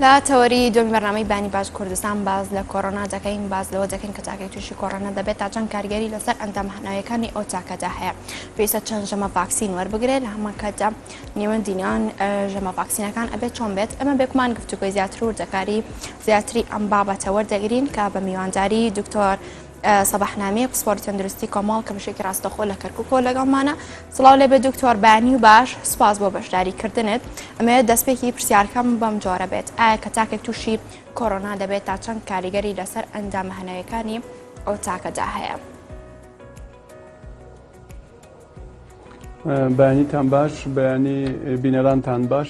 لە تەوەری دومی بەنامەی بانی باش کوردستان باز لە کۆرۆنا دەکەین باز لەوە دەکەین کە تاکەی تووشی کۆرۆنا دەبێت تا چەند کارگەری لەسەر ئەندامهناویەکانی ئەو تاکەدا هەیە پێویستە چەند ژەمە ڤاکسین وەربگرێت لە هەمانکاتدا نێوەندینان ژەمە ڤاکسینەکان ئەبێت چۆن بێت ئەمە بێکمان گفتوگوی زیاتر و دەکاری زیاتری ئەم بابەتە وەردەگرین کە بە میوانداری دکتۆر سەباح نامیە پسپۆری تەندروستی کۆمەڵ کە بەشێکی ڕاستەخۆ لە کەرککۆ لەگەڵمانە سڵاو لێ بێ دکتۆر بانی و باش سپاس بۆ بەشداری کردنت ئەمەیە دەستپێکی پرسیارکەم بەم جۆرە بێت ئایا کە تاکێک تووشی کۆرۆنا دەبێت تا چەند کاریگەری لەسەر ئەندامە هەنەوەکانی ئەو تاکەدا هەیە. بەیانیتان باش بەیانی بینەرانتان باش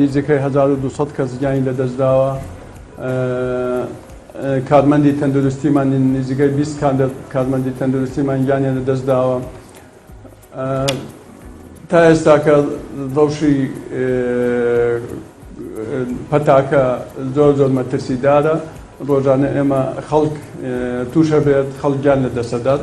نزیکەی هەزار و دوو سەد کەس گیانی لەدەستداوە. کارمەندی تەندروستیمان نزیکەی بیست کارمەندی تەندروستیمان گیانیان لەدەستداوە. تا ئێستاکە ڕەوشی پەتاکە زۆر زۆر مەترسیدارە. ڕۆژانە ئێمە خەڵک تووشەبێت، خەڵک گیان لەدەستدەدات.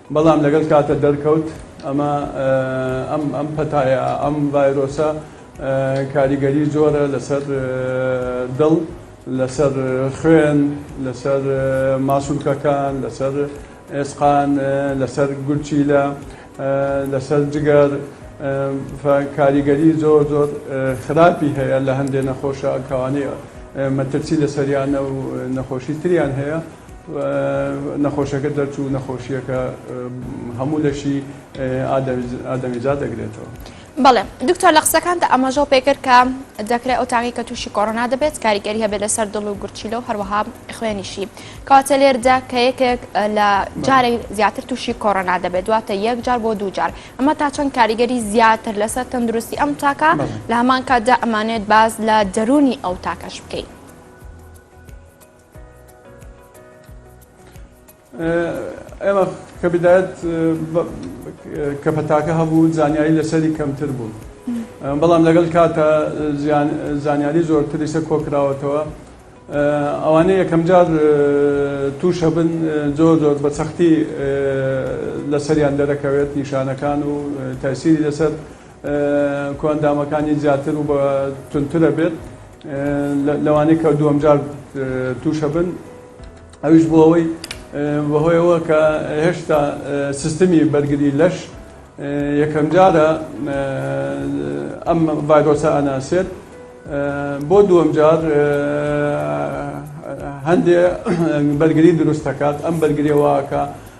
بەڵام لەگەڵ کاتە دەرکەوت ئەمە ئەم ئەم پەتایە ئەم ڤایرۆسە کاریگەری زۆرە لەسەر دڵ لەسەر خوێن لەسەر ماسولکەکان لەسەر ئێسقان لەسەر گورچیلە لەسەر جگەر کاریگەری زۆر زۆر خراپی هەیە لە هەندێ نەخۆشە کەوانەی مەترسی لەسەریانە و نەخۆشی تریان هەیە نەخۆشەکە دەرچوو نەخۆشییەکە هەموو لەشی ئادەمیزاد دەگرێتەوە. بەڵێ دکتۆر لە قسەکانتە ئەمەژەو پێکرد کە دەکرێت ئەو تاقی کە تووشی کۆرۆنا دەبێت کاریگەری هەبێت لەسەر دڵ و گورچیلە و هەروەها خوێنیشی کاتە لێردا کە یەکێک لە جارێک زیاتر تووشی کۆرۆنا دەبێت دواتە یەک جار بۆ دوو جار ئەمە تا چەند کاریگەری زیاتر لەسەر تەندروستی ئەم تاکە لە هەمان کاتدا ئەمانێت باز لە دەرونی ئەو تاکەش بکەین. ئێمە کە بدایەت کە پەتاکە هەبوو زانیاری لەسەری کەمتر بوو بەڵام لەگەڵ کاتە زانیاری زۆرتری سە کۆکراوەتەوە ئەوانە یەکەم جار تووشە بن زۆر زۆر بە سەختی لەسەریان دەرەکەوێت نیشانەکان و تاسیری لەسەر کۆئەندامەکانی زیاتر و توندترە بێت لەوانەی کە دووەم جار تووشە بن ئەویش بۆ ئەوەی بەهۆیەوە کە هێشتا سیستمی بەرگری لەش یەکەم جارە ئەم ڤایرۆسە ئەناسێت بۆ دووەم جار هەندێ بەرگری دروست دەکات ئەم بەرگریەوەکە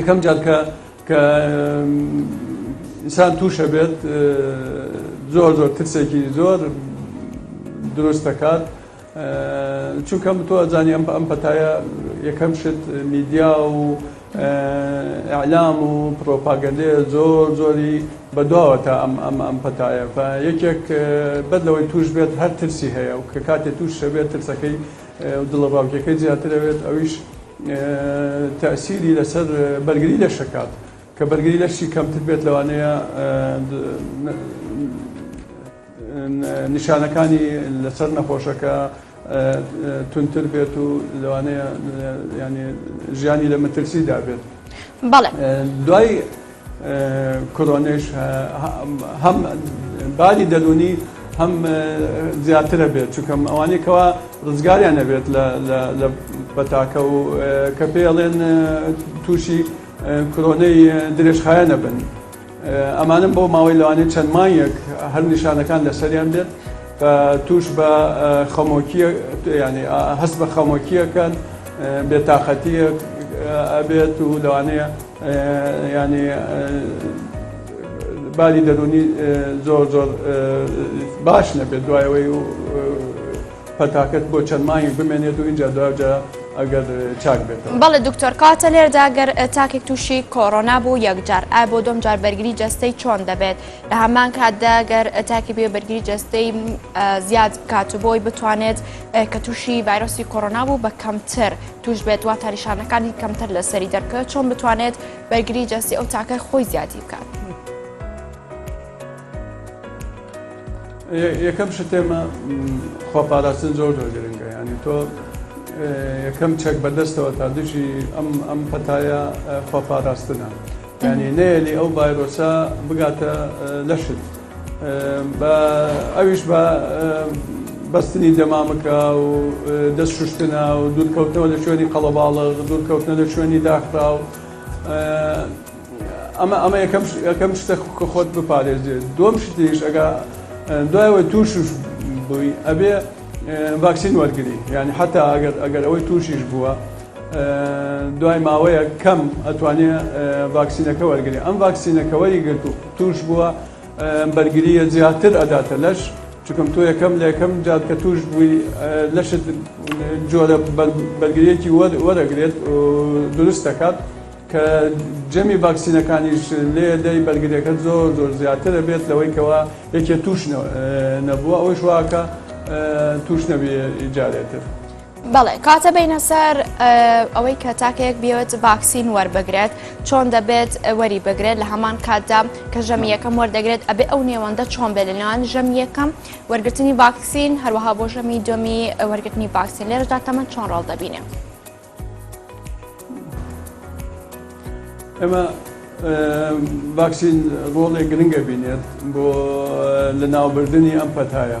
یەکەم جار کە کە ئینسان تووشە بێت زۆر زۆر ترسێکی زۆر دروست دەکات چونکە تۆ ئەزانی ئەم ئەم پەتایە یەکەم شت میدیا و ئەعلام و پرۆپاگەندێ زۆر زۆری بەدواوە تا ئەم ئەم ئەم پەتایە یەکێک بەر لەوەی توش بێت هەر ترسی هەیە و کە کاتێ توش شەبێت ترسەکەی دڵە باوکیەکەی زیاتر ئەوێت ئەویش تەئسیری لەسەر بەرگری لەش دەکات کە بەرگری لەشی کەمتر بێت لەوانەیە نیشانەکانی لەسەر نەخۆشەکە تونتر بێت و لەوانەیە ینی ژیانی لە مەترسیدا بێت بەڵێ دوای کرۆنەیش هەم باری دەروونی هەم زیاترە بێت چکەم ئەوانەی کەوا ڕزگاریان نەبێت لە پەتاکە و کە پێڵێن تووشی کرۆنەی درێژخایە نەبن ئەمانم بۆ ماوەی لەوانی چەند مایەک هەر نیشانەکان لەسەریان بێت توش بە خەمۆکی ینی هەست بە خەمۆکیەکەن بێتاقەتیە ئەبێت و لەوانەیە یانی باری دەرونی زۆر زۆر باش نەبێت دوای ئەوەی و پەتاکەت بۆ چەند مانگێک بمێنێت و اینجا دواجا ئەگەر چاک بێت بەڵێ دکتۆر کاتە لێردا گەر تاکێک تووشی کۆرۆنا بوو یەکجار ئا بۆ دۆم جار بەرگری جەستەی چۆن دەبێت لە هەمان کاتدا گەر تاکی بێ بەرگری جەستەی زیاد بکات و بۆی بتوانێت کە تووشی ڤایرۆسی کۆرۆنا بوو بە کەمتر توش بێت واتە نیشانەکانی کەمتر لە سەری دەرکەوێت چۆن بتوانێت بەرگری جەستی ئەو تاکەی خۆی زیادی بکات. یەکەم شتێمە خۆپاراستن زۆر زۆر گرنگە ینی تۆ یەکەم چەک بەدەستەوە تا دژی ئەم ئەم پەتایە خۆپاراستنە ینی نەیەلی ئەو ڤایرۆسە بگاتە لەشت. بە ئەویش بە بەستنی دەمامکە و دەست شوشتنە و دوورکەوتنەوە لە شوێنی قەڵەباڵغ دوورکەوتنە لە شوێنی داخرا و ئەمە ئەمە یەکەم یەکەم شتە کە خۆت بپارێزێت دوم شتیش ئەگا دوایەوەی تووش بووی ئەبێ ڤاکسین وەرگری یعنی حتا ئەگەر ئەگەر ئەوەی تووشیش بووە دوای ماوەیە کەم ئەتوانێت ڤاکسینەکە وەرگری ئەم ڤاکسینەکە وەری گرتوو توش بوە ئەم بەرگریە زیاتر ئەداتە لەش چکم تۆ یەکەم لە یەکەم جات کە توش بووی لەشت جۆرە بەرگریەکی وەرەگرێت دروست دەکات کە جەمی ڤاکسینەکانیش لێ دەی بەرگریەکە زۆر زۆر زیاترە بێت لەوەی کەەوە یەکێ توش نەبووە ئەوەی شواکە توش نەبێ جارێتر. بەڵێ کاتە بینە سەر ئەوەی کە تاکەیەک بێت ڤاکسین وەربگرێت چۆن دەبێت وەری بگرێت لە هەمان کاتدا کە ژەمی یەکەم وەردەگرێت ئەبێ ئەو نێوەندە چۆن بێت لەناوان ژەم یەکەم وەرگرتنی ڤاکسین هەروەها بۆ ژەمی دومی وەرگرتنی ڤاکسین لێرەدا تەمە چۆن ڕاڵ دەبینێ ئەمە ڤاکسین ڕۆڵێک گرنگە بینێت بۆ لە ناوبردننی ئەم پەتایە.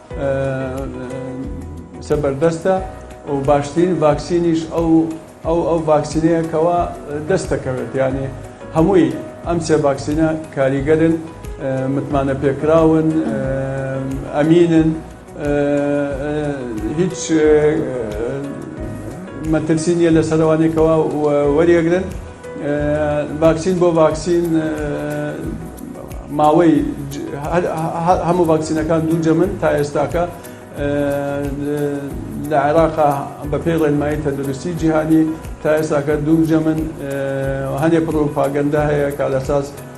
زەبەردەستە و باشترین ڤاکسینیش ئەو ئەو ئەو ڤاکسینەیەکەوە دەست دەکەوێت یانێ هەمووی ئەم سێ ڤاکسینە کاریگەرن متمانە پێکراون ئەمینن هیچ مەترسی نیە لە سەروانێکەوە وەریەگرن. ڤاکسین بۆ ڤاکسین ماوەی هەموو ڤاکسینەکان دوو جەمن تا ئێستاکە لە عێراقا بەپێی ڕێنمایی تەندروستی جیهانی تا ئێستاکە دوو جەمن هەنێ پڕۆپاگەندە هەیە کارەساز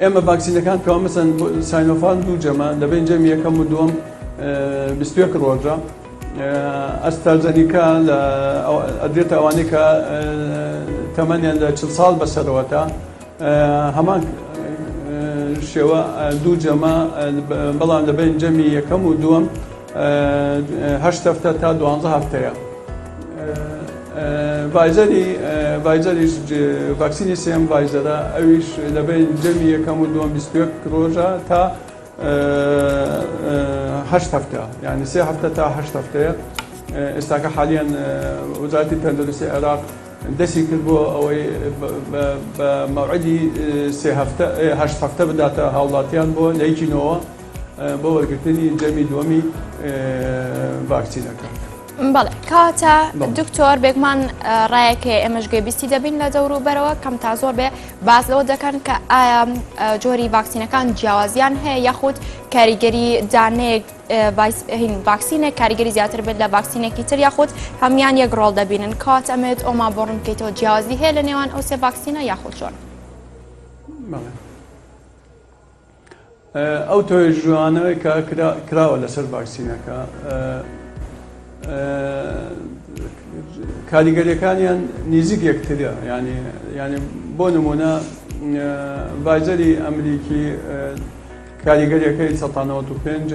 ئێمە ڤاکسینەکان کەوا مەسەن ساینۆفان دوو جەمە لەبێن جەمی یەکەم و دووەم بیستێک ڕۆژە ئەستازەنیکە لە ئەدرێتە ئەوانەی کە تەمەنیان لە چ ساڵ بەسەرەوەتە هەمان شێوە دوو جەمە بەڵام لەبێن جەمی یەکەم و دووەم هەشت هەفتە تا دوانزە هەفتەیە ڤایزەری ڤایزەریش ڤاکسینی سێم ڤایزەرە ئەویش لە بین جەمی یەکەم و دووەم ڕۆژە تا هەشت هەفتە یعنی سێ هەفتە تا هەشت هەفتەیە ئێستاکە حالیان وزارتی تەندروستی عێراق دەستی کرد بۆ ئەوەی مەعدی سێ هەفتە هەشت هەفتە بداتە هاوڵاتیان بۆ لەیکینەوە بۆ وەرگرتنی جەمی دووەمی ڤاکسینەکە. بەڵێ کاتە دکتۆر بێگمان ڕایەکێ ئێمەش گوێبیستی دەبین لە دەورو بەرەوە کەم تا زۆر بێ باز لەوە دەکەن کە ئایا جۆری ڤاکسینەکان جیاوازیان هەیە یاخود کاریگەری دانێک ڤاکسینێک کاریگەری زیاتر بێت لە ڤاکسینێکی تر یاخود هەمان یەک ڕۆڵ دەبینن کات ئەمێت ئۆما بۆ ڕوونکەیتەوە جیاوازی هەیە لە نێوان ئەو سێ ڤاکسینە یاخود چۆن. ئەو توێژانەوەی کە کراوە لەسەر ڤاکسینەکە کاریگەریەکانیان نیزیک یەکترە ینی ینی بۆ نمونە ڤایزەری ئەمریکی کاریگەریەکەی سە 95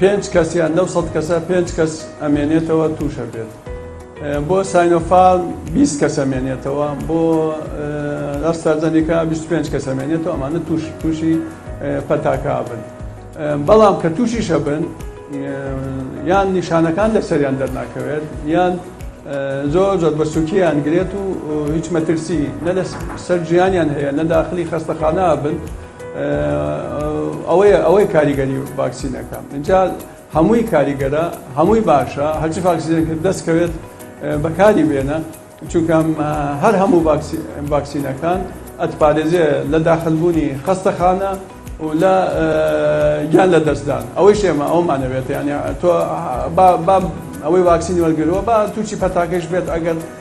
پێنج کەس یان لەو سەد کەسە پێنج کەس ئەمێنێتەوە تووشە بێت بۆ ساینۆفال 20 کەس ئەمێنێتەوە بۆ ئەستازەنیکا 25 کەس ئەمێنێتەوە ئەمانە توش تووشی پەتاکا بن بەڵام کە تووشیشە بن یان نیشانەکان لەسەریان دەرناکەوێت یان زۆر زۆر بە سوکییان گرێت و هیچ مەترسی نە لە سەر ژیانیان هەیە نە داخلی خەستەخانە بن ئەوەیە ئەوەی کاریگەری ڤاکسینەکە اینجا هەمووی کاریگەرە هەمووی باشە هەرچی ڤاکسینەکە دەستکەوێت بەکاری بێنە چونکە هەر هەموو ڤاکسینەکان ئەتپارێزێ لە داخلبوونی خەستەخانە و لە گیان لە دەستدان ئەوەی شێمە ئەومانەوێت یانە تۆ ئەوەی ڤاکسینی وەرگرەوە بە تووشی پەتاکەش بێت ئەگەر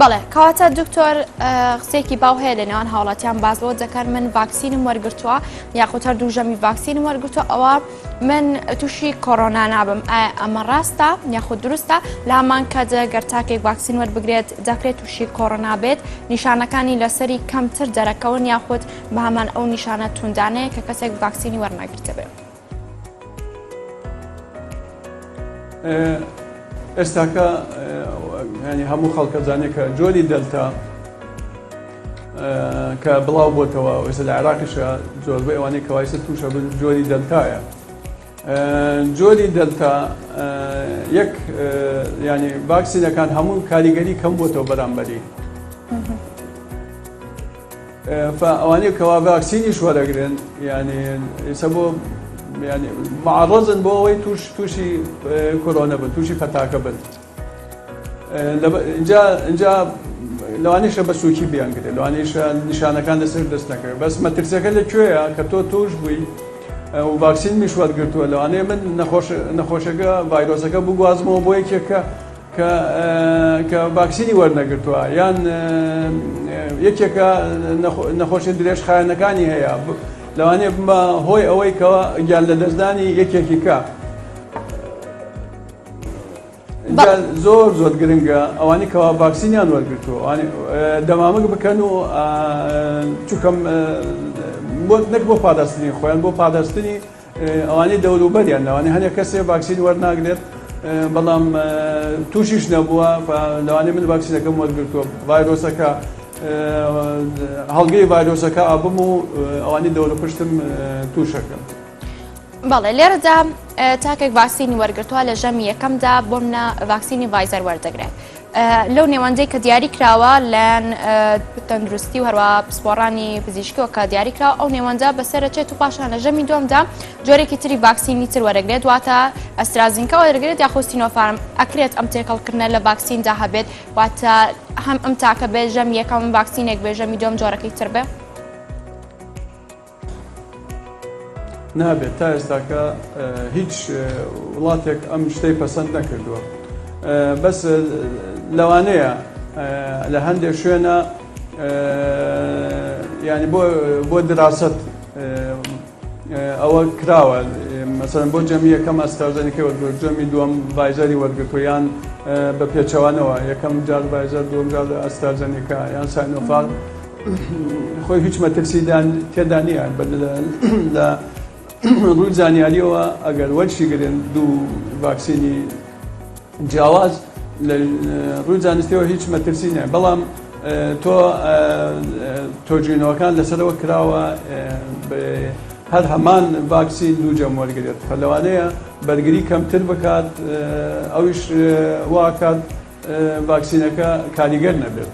بەڵێ کەواتە دکتۆر قسێکی باو هەیە لە نێوان هاوڵاتیان باز بۆ دەکەن من ڤاکسینم وەرگتووە یاخود هەر دوو ژەمی ڤاکسینم وەرگتووە ئەوە من تووشی کۆرۆنا نابم ئەمە ڕاستە یاخود دروستە لامان کە جەگەر تاکێک ڤاکسین وەربگرێت دەکرێت تووشی کۆرۆنا بێت نیشانەکانی لەسەری کەمتر دەرەکەون یاخود بەمان ئەو نیشانە توندانەیە کە کەسێک ڤاکسینی وەرناگرتە بێت. ئێستاکە ینی هەموو خەڵکە زانێ کە جۆری دەلتا کە بڵاو بۆتەوە ئێستا لە عراقیشە زۆربەی ئەوانەی کەوایسە تووشە بن جۆری دەلتایە جۆری دەلتا یەک ینی باکسینەکان هەموو کاریگەری کەم بۆتەوە بەرامبەری ئەوانەی کەوا ڤاکسینیش وەرەگرن یعنی ئێستا بۆ یعنی معڕەزن بۆ ئەوەی توش تووشی کۆرۆنە بن تووشی پەتاکە بن اینجا لەوانیشە بە سوچی بیانگرێت لەوانیشە نیشانەکان دەسەر دەست نەکرێت بەس مەترسەکە لە کوێیە کە تۆ توش بووی و ڤاکسین میش وەرگتووە لەوانەیە من نەخۆشەکە ڤایرۆسەکە بگوازمەوە بۆ یەکێکە کە کە ڤاکسینی وەرنەگرتووە یان یەکێکە نەخۆشی درێژخایەنەکانی هەیە لەوانەیە بمە هۆی ئەوەی کەەوە گیان لە دەستدانی یەکێکی کە زۆر زۆر گرنگە ئەوانی کەوا ڤاکسینیان وەرگتووە دەمامک بکەن و چکەم نەک بۆ پاداستنی خۆیان بۆ پاداستنی ئەوانەی دەوروبەریان لەوانەیە هەنێ کەسێ ڤاکسین وەرناگرێت بەڵام تووشیش نەبووە لەوانەیە من ڤاکسینەکەم وەرگرتووە ڤایرۆسەکە هەڵگری ڤایرۆسەکە ئابم و ئەوانی دەورە پشتم تووشەکەم. بەڵێ لێرەدا تاکێک ڤاکسینی وەرگتووە لە ژەمی یەکەمدا بۆم نە ڤاکسینی ڤایزەر وەردەگرێت لەو نێوەندەی کە دیاری کراوە لەن تەندروستی و هەروە پسپۆڕانی پزیشکەوە کە دیاری کراوە ئەو نێوەندە بەسەرچێت و پاشان لە ژەمی دومدا جۆرێکی تری ڤاکسینی تر وەرەگرێت واتە ئەسترازینکە وەرەگرێت یاخۆستی نۆفاارم ئەکرێت ئەم تێکەڵکردە لە ڤاکسیندا هەبێت واتە هەم ئەم تاکە بێت ژەم یەکەم ڤاکسینێک بێژەمی دوم جۆرەکەی تر بێت. نابێت تا ئێستاکە هیچ وڵاتێک ئەم شتەی پەسەند نەکردووە بەس لەوانەیە لە هەندێک شوێنە ینی بۆ دراست ئەوە کراوە مەسەن بۆ جەمی یەکەم ئەستاژەنیکە وەرگۆ جەمی دووەم ڤایزەری وەرگتویان بە پێچەوانەوە یەکەم جار ڤایزەر دوم جار ئەستاژەنیکە یان ساینۆفاغ خۆی هیچ مەترسی تێدا نییە لە ڕووی زانیاریەوە ئەگەر وەرشیگرن دوو ڤاکسینی جیاواز لە ڕووی زانستیەوە هیچ مەترسی نیە بەڵام تۆ تۆجینەوەکان لەسەرەوە کراوە هەر هەمان ڤاکسین دوو جەم وەرگێت لەوانەیە بەرگری کەمتر بکات ئەویش واکات ڤاکسینەکە کاریگەر نەبێت.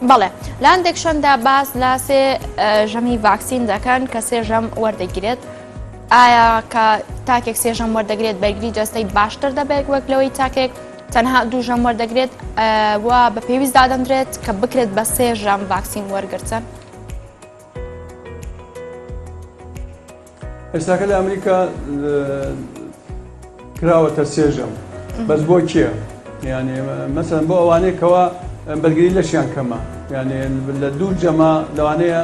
بەڵێ لاندێک شەندا باز لە سێ ژەمی ڤاکسین دەکەن کە سێ ژەم وەردەگرێت ئایا کە تاکێک سێ ژەم وەردەگرێت بەرگری جەستەی باشتر دەبێت وەک لەوەی تاکێک تەنها دوو ژەم وەردەگرێت و بە پێویست دادەندرێت کە بکرێت بە سێ ژەم ڤاکسین وەرگتن ئێستاکە لە ئەمریکا کراوەتە سێژەم بەس بۆ کێ یانێ مەسەن بۆ ئەوانەیە کەەوە بەرگری لەشیان کەمە یانێ لە دوو جەما لەوانەیە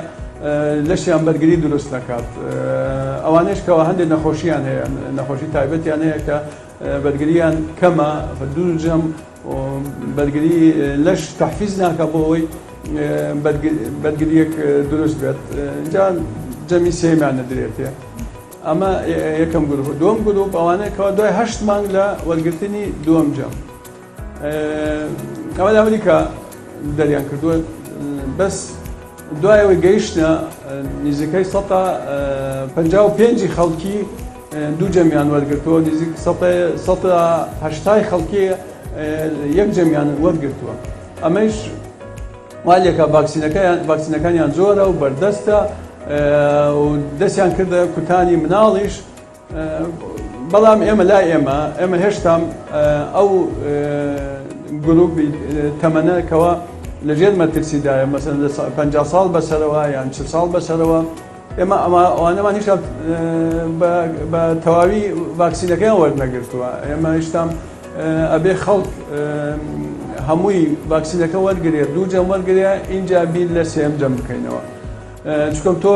لەشیان بەرگری دروست نەکات ئەوانش کەەوە هەندێک نەخۆشییان هەیە نەخۆشی تایبەتیان هەیە کە بەرگریان کەمە دوو جەم بەرگری لەش تەحفیز ناکات بۆ ئەوەی بەرگریەک دروست بێت جا جەمی سێمان نەدرێتێ ئەمە یەکەم گروپ دوم گروپ ئەوانەیە کەوا دوای هەشت مانگ لە وەرگرتنی دوم جەم ئەوە لە ئەمریکا دەریان کردووە بەس دوای ئەوەی گەیشتە نزیکەی سەدا پەنجا و پێنجی خەڵکی دوو جەمیان وەرگرتووە، نزیک سەدا سەدا هەشتای خەڵکی یەک جەمیان وەرگرتووە. ئەمەیش وا لێکا ڤاکسینەکەیان ڤاکسینەکانیان زۆرە و بەردەستە و دەستیان کردە کوتانی مناڵیش بەڵام ئێمە لا ئێمە ئێمە هێشتام ئەو گروپی تەمەە کەەوە لەژێر مەترسیدایە مەسن لە 50 ساڵ بەسەرەوە یان چ ساڵ بەسەرەوە ئێمە ئەمە ئەوانەمان هیچ بە تەواوی ڤاکسینەکەیان وەرنەگرتووە ئێمە هیچتام ئەبێ خەڵک هەمووی ڤاکسینەکە وەرگێ دوو جەم وەرگێ ئینجا بیر لە سێم جەم بکەینەوە. چونکە تۆ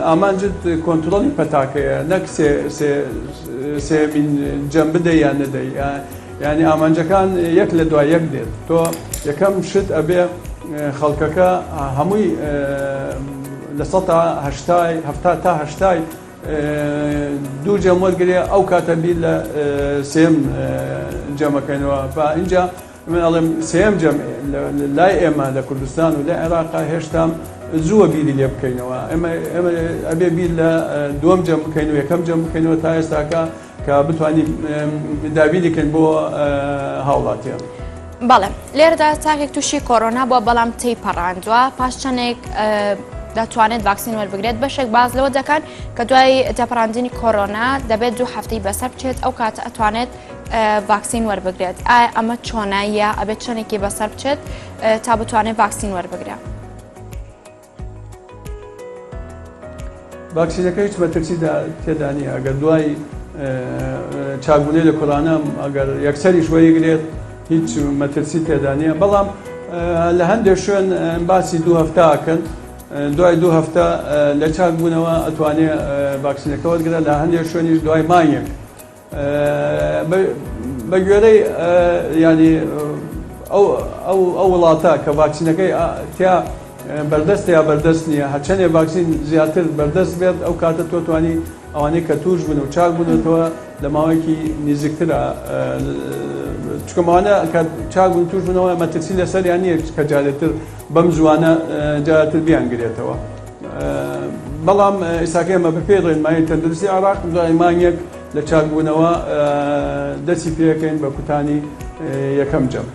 ئامانجت کۆنترۆڵی پەتاکەیە نەک سێمین جەم بدە یان نەدەی ینی ئامانجەکان یەک لە دوای یەک دێت تۆ یەکەم شت ئەبێ خەڵکەکە هەمووی لە سە هەشتای هەفتا تا هەشتای دوو جەم وەرگێ ئەو کاتە بیر لە سێم جەمەکەنەوە بە اینجا من ئەڵێم سێیەم جەمعی لای ئێمە لە کوردستان و لە عێراقا هێشتام زووە بیری لێ بکەینەوە ئێمە ئەبێ بیر لە دووەم جەم بکەین و یەکەم جەم بکەینەوە تا ئێستاکە کە بتوانین دابینیکەین بۆ هاوڵاتیان. بەڵێ لێرەدا تاکێک تووشی کۆرۆنا بووە بەڵام تی پەڕاندووە پاش چەندێک دەتوانێت ڤاکسین وەربگرێت بەشێک باز لەوە دەکات کە دوای تێپەڕاندنی کۆرۆنا دەبێت دوو هەفتەی بەسەر بچێت ئەو کات ئەتوانێت ڤاکسین وەربگرێت ئایا ئەمە چۆنە یا ئەبێت چەندێکی بەسەر بچێت تا بتوانێت ڤاکسین وەربگرە ڤاکسینەکە هیچ مەترسی تێدانی ئەگەر دوای چاگونەی لە کۆرانە ئەگەر یەکسەری شوەیگرێت هیچ مەترسی تێدانە بەڵام لە هەندێک شوێن باسی دوو هەفتاکەن دوای دوو هەفتە لە چاک بوونەوە ئەتوانێت ڤاکسینەکە وەرگرە لە هەندێک شوێنیش دوای مانگێک بە گوێرەی یانی ئەو وڵاتە کە ڤاکسینەکەی تیا بەردەست یا بەردەست نییە هەچەندێ ڤاکسین زیاتر بەردەست بێت ئەو کاتە تۆ توانی ئەوانەی کە توش بن و چاک بنێتەوە لە ماوەیەکی نزیکترە چکەمانە کە چاک بن توش بنەوە مەترسی لەسەر یان نیە کە جارێتر بەم زوانە جارتر بیانگرێتەوە. بەڵام ئێستاکە ئێمە بە پێی ڕێنمایی تەندروستی عێراق دوای مانگێک لە چاکبوونەوە دەستی پێکەین بە کوتانی یەکەم جەم.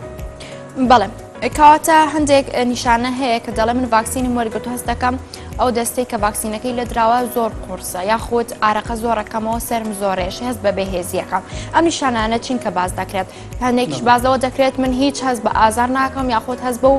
بەڵێ کەواتە هەندێک نیشانە هەیە کە دەڵێ من ڤاکسینم وەرگرت هەست دەکەم ئەو دەستەی کە ڤاکسینەکەی لە دراوە زۆر قورسە یاخود ئارەقە زۆرەکەمەوە سرم زۆرێش هەست بە بەهێزیەکەم ئەم نیشانانە چین کە باز دەکرێت هەندێکیش بازەوە دەکرێت من هیچ هەست بە ئازار ناکەم یاخود هەست بە و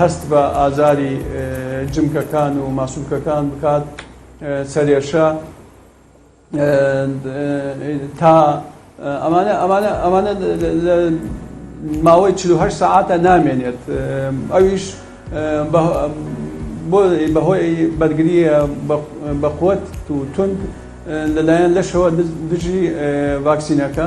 هەست بە ئازاری جمکەکان و ماسولکەکان بکات سەرێشە تا ئەمانە ئەمانە ئەمانە ماوەی 48 ساعتە نامێنێت ئەویش بۆ بەهۆی بەرگریە بەقوت و تونند لەلایەن لەشەوە دژی ڤاکسینەکە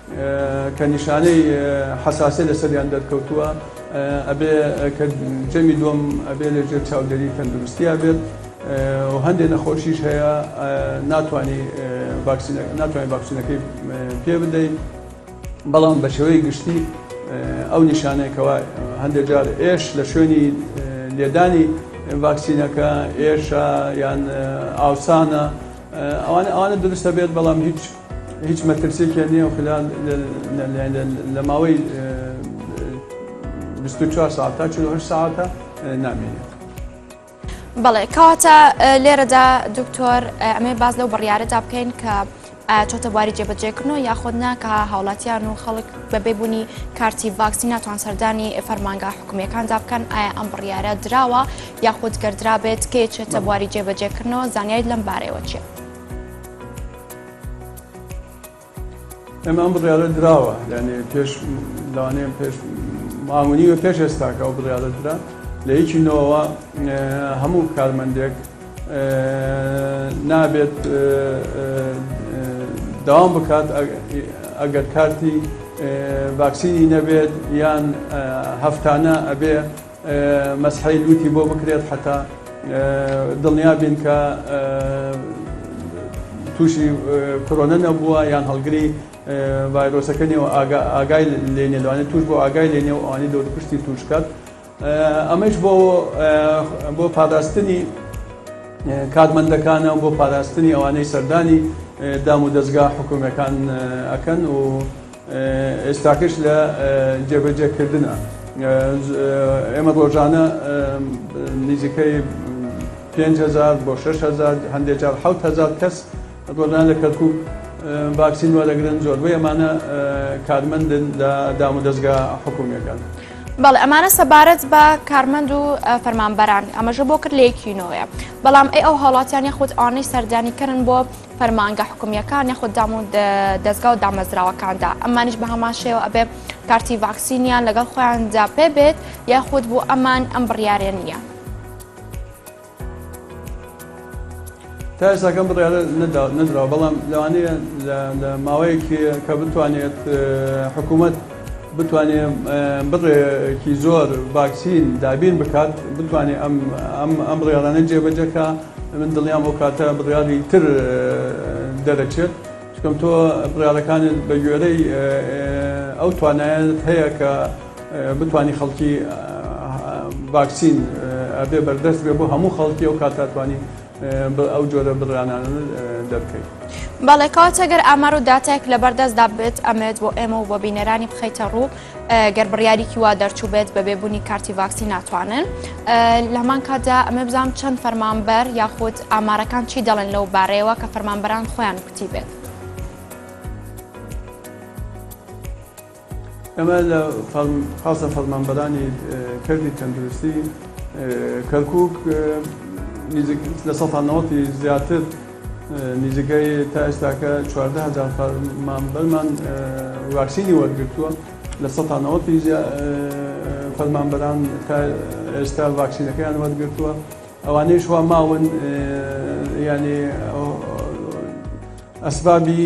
کە نیشانەی حەساسیەت لەسەریان دەرکەوتووە ئەبێ کە جەمی دووەم ئەبێ لە ژێر چاودێری تەندروستیا بێت و هەندێک نەخۆشیش هەیە ناتوانانی ناتوانانی ڤاکسینەکەی پێ بدەیت بەڵام بە شێوەی گشتی ئەو نیشانێکەوە هەندێک جار ئێش لە شوێنی لێدانی ڤاکسینەکە ئێشە یان ئاوسانە ئەوانە ئەوانە دروستە بێت بەڵام هیچ هیچ مەترسێکیان نییە و خلال لە ماوەی 24 ساعت تا 48 ساعتە نامێنێت. بەڵێ کەواتە لێرەدا دکتۆر ئەمێ باز لەو بڕیارەدا بکەین کە چۆتە بواری جێبەجێکردنەوە یاخود ناکە هاوڵاتیان و خەڵک بەبێ بوونی کارتی ڤاکسی ناتوان سەردانی فەرمانگا حکومیەکاندا بکەن ئایا ئەم بڕیارە دراوە یاخود گەر درابێت کێ چێتە بواری جێبەجێکردنەوە زانیاریت لەم بارەیەوە چیە؟ ئەمە ئەم بڕیارە دراوە یعنی پێش لەوانەیە پێش مامونی و پێش ئێستاکە ئەو بڕیارە درا لە یەکی نەوەوە هەموو کارمەندێک نابێت داوام بکات ئەگەر کارتی ڤاکسینی نەبێت یان هەفتانە ئەبێ مەسحی لوتی بۆ بکرێت حەتا دڵنیا بین کە تووشی کۆرۆنە نەبووە یان هەڵگری ڤایرۆسەکە نێوە ئاگای لێ نێلوانێت توش بۆ ئاگای لێ نێو ئەوانی دەور پشتی توش بکات ئەمەش بۆ بۆ پاراستنی کارمەندەکانە بۆ پاراستنی ئەوانەی سەردانی دام و دەستگا حکوومەکان ئەکەن و ئێستاکەش لە جێبەجێکردنە. ئێمە ڕۆژانە نزیکەی پێنج هەزار بۆ شەش هەزار، هەندێک جار حەوت هەزار کەس ڕۆژانە لە کەرکووک ڤاکسین وەردەگرن، زۆربەی ئەمانە کارمەندن لە دامودەزگا حکوومییەکان. بەڵێ ئەمانە سەبارەت بە کارمەند و فەرمانبەران ئەمەژە بۆ کرد لە یەکی نۆێ بەڵام ئەی ئەو هاوڵاتیان یاخود ئەوانەی سەردانیکەرن بۆ فەرمانگە حکومیەکان یاخود دام و دەزگا و دامەزراوەکاندا ئەمانیش بە هەمان شێوە ئەبێ کارتی ڤاکسینیان لەگەڵ خۆیاندا پێ بێت یاخود بۆ ئەمان ئەم بڕیارە نییە. تا ئێستاکەم بڕیارە نەدراوە بەڵام لەوانەیە لە ماوەیەکی کە بتوانێت حکوومەت بتوانێ بڕێ کی زۆر ڤاکسین دابین بکات بتوانێ ئەم ئەم ئەم بڕیارانە جێبەجەکە من دڵیان بۆ کاتە بڕیاری تر دەرەچێت چکەم تۆ بڕارەکانت بە گوێرەی ئەو توانایەت هەیە کە بتانی خەڵکی ڤاکسین ئەبێ بەردەست بێ بۆ هەموو خەڵکی و کاتاتوانی بە ئەو جۆرە بڕانانە دەرکەی. بەڵێ کەواتە گەر ئامار و داتایەک لەبەر دەستدا بێت ئەمەوێت بۆ ئێمە و بۆ بینەرانی بخەیتە ڕوو گەر بڕیاریکی وا دەرچوو بێت بە بێبوونی کارتی ڤاکسی ناتوانن لە هەمان کاتدا ئەمە بزانام چەند فەرمانبەر یاخود ئامارەکان چی دەڵێن لەو بارەیەوە کە فەرمانبەران خۆیان کوتی بێت. ئەمە لە پاسە فەرمانبەرانی کەرتی تەندروستی کەرکوک لە سە نەوەتی زیاتر نزیکەی تا ئێستاکە چواردە هزار فەرمانبەرمان واکسینی وەرگتووە لە سە نەوەتی فەرمانبەران تا ئێستا واکسینەکەیان وەرگتووە ئەوانەی شوا ماون ینی ئەسبابی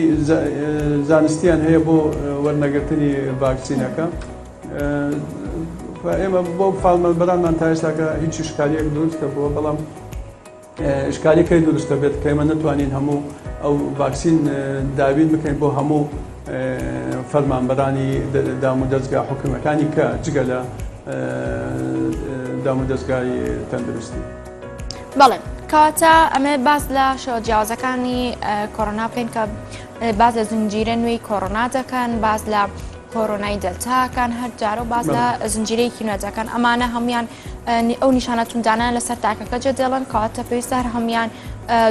زانستیان هەیە بۆ وەرنەگرتنی ڤاکسینەکە ئێمە بۆ فاڵمان بەرانمان تا ئێستاکە هیچ شکاریەک دروست دەبووە بەڵام شکاریەکەی دروست دەبێت کەمە نتوانین هەموو ئەو ڤاکسین دابین بکەین بۆ هەموو فەرمانبەرانی دام و دەستگا حکومەکانی کە جگە لە دام و دەستگای تەندروستی. بەڵێ کەواتە ئەمێ باز لە شێوە جیاوازەکانی کۆرۆنا بکەین کە باز لە زنجیرە نوێی کۆرۆنا دەکەن باز لە کۆرۆنای دەلتاکان هەر جارە و باز لە زنجیرەیەکی نوێجەکان ئەمانە هەموان ئەو نیشانە توندانە لەسەر تاکەکە جێ دێڵن کەواتە پێویستە هەر هەموان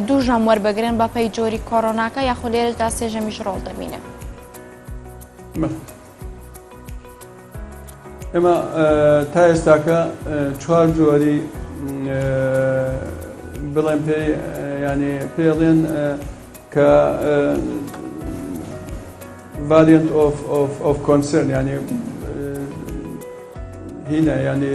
دوو ژەم وەربگرن بەپەی جۆری کۆرۆناکە یاخۆ لێرەدا سێژەمیش ڕۆڵ دەبینن. ئێمە تا ئێستاکە چوار جۆری بڵێن پێ ینی پێڵێن کە ڤالنت ئۆف کۆنسرن ینی هینە ینی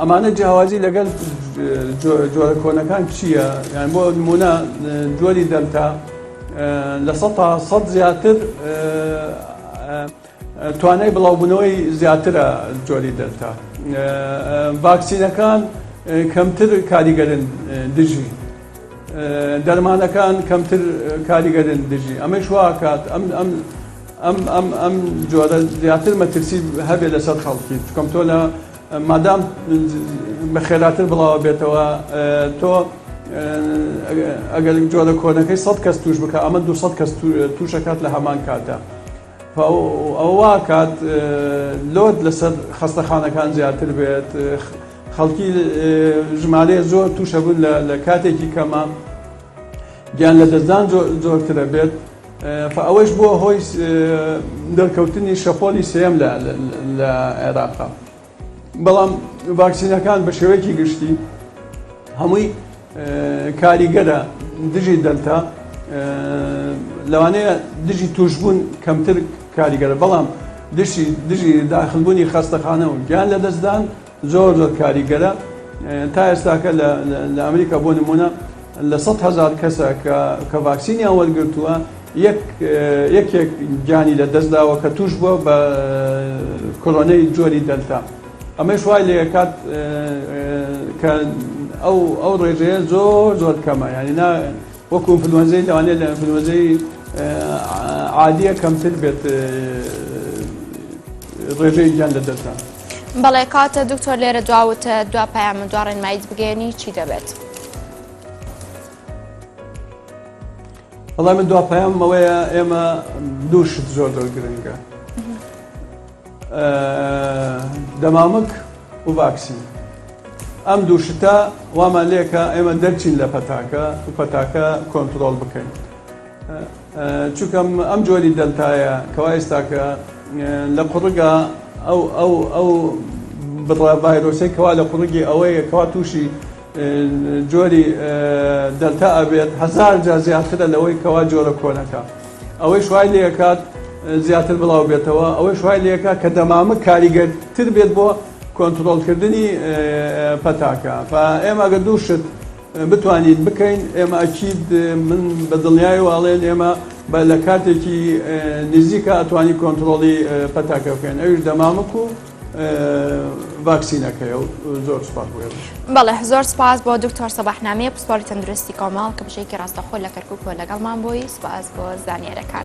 ئەمانە جیاوازی لەگەل جۆرە کۆنەکان چییە یان بۆ نمونە جۆری دەلتا لە سە تا سەد زیاتر توانای بڵاوبوونەوەی زیاترە جۆری دەلتا ڤاکسینەکان کەمتر کاریگەرن دژی دەرمانەکان کەمتر کاریگەرن دژی ئەمەش واکات ئەم ئەم ئەم جۆرە زیاتر مەترسی هەبێت لەسەر خەڵکی چکۆم تۆ لە مادام بە خێراتر بڵاوە بێتەوە تۆ ئەگەر جۆرە کۆنەکەی سە کەس توش بکە ئەمە دو کەس توشەکات لە هەمان کاتە ئەووا کات لۆت لەسەر خەستەخانەکان زیاتر بێت خەڵکی ژمارێ زۆر توشەبوون لە کاتێکی کەمە گیان لە دەستدان زۆرترە بێت خۆ ئەوەیش بووە هۆی دەرکەوتنی شەپۆلی سێیەم لە عێراق. بەڵام ڤاکسینەکان بە شێوەیەکی گشتی هەمووی کاریگەرە دژی دەلتا، لەوانەیە دژی تووشبوون کەمتر کاریگەرە، بەڵام دژی داخلبوونی خەستەخانە و گیان لەدەستدان، زۆر زۆر کاریگەرە تا ئێستاکە لە ئەمریکا بۆ نمونە لە سە هزار کەسە کە ڤاکسینیان وەرگتووە یەکێک گیانی لە دەستداوە کە توش بووە بە کۆرۆنەی جۆری دەلتا ئەمەش وای لە کات کە ئەو ئەو ڕێژەیە زۆر زۆر کەمە یانی وەکو ئینفلوەنزەی لەوانەیە لە ئینفلوەنزەی عادییە کەمتر بێت ڕێژەی گیان لە دەستدان بەڵێ کاتە دکتۆر لێرە دواوتە دوا پایان من دوا ڕێنماییت بگەێنی چی دەبێت؟ بەڵام من دوا پایامەوەیە ئێمە دووشت زۆر دەور گرنگە دەمامک و ڤاکسین ئەم دوو شتە وامان لێکە ئێمە دەرچین لە پەتاکە و پەتاکە کۆنتترۆل بکەین چونکەم ئەم جۆری دەلتایە کەوا ئێستاکە لە قڕگا ئەو ئەو ئەو بڕە ڤایرۆسی کەوا لە قڕگی ئەوەیە کەوا تووشی جۆری دەلتا ئەبێت هەزار جار زیاترە لەوەی کەوا جۆرە کۆنەکە ئەوەیش وای لێکات زیاتر بڵاو بێتەوە ئەوەیش وای لێکە کە دەمامک کاریگەرتر بێت بۆ کۆنتترۆلکردنی پەتاکە ئێمە گە دوو شت بتوانین بکەین ئێمە ئەکیید من بە دڵنیای واڵێن ئێمە بە لە کاتێکی نزیکە ئەتوانی کۆنتترۆڵی پەتاکە بکەین ئەوش دەمامک و ڤاکسینەکەی و زۆر سپاس بۆ ئێوەش. بەڵێ زۆر سپاس بۆ دکتۆر سەباحنامەیە پسپۆری تەندروستی کۆمەڵ کە بژێکی ڕاستەخۆ لە کەرکوک بۆ لەگەڵمان بووی سپاس بۆ زانیارەکان.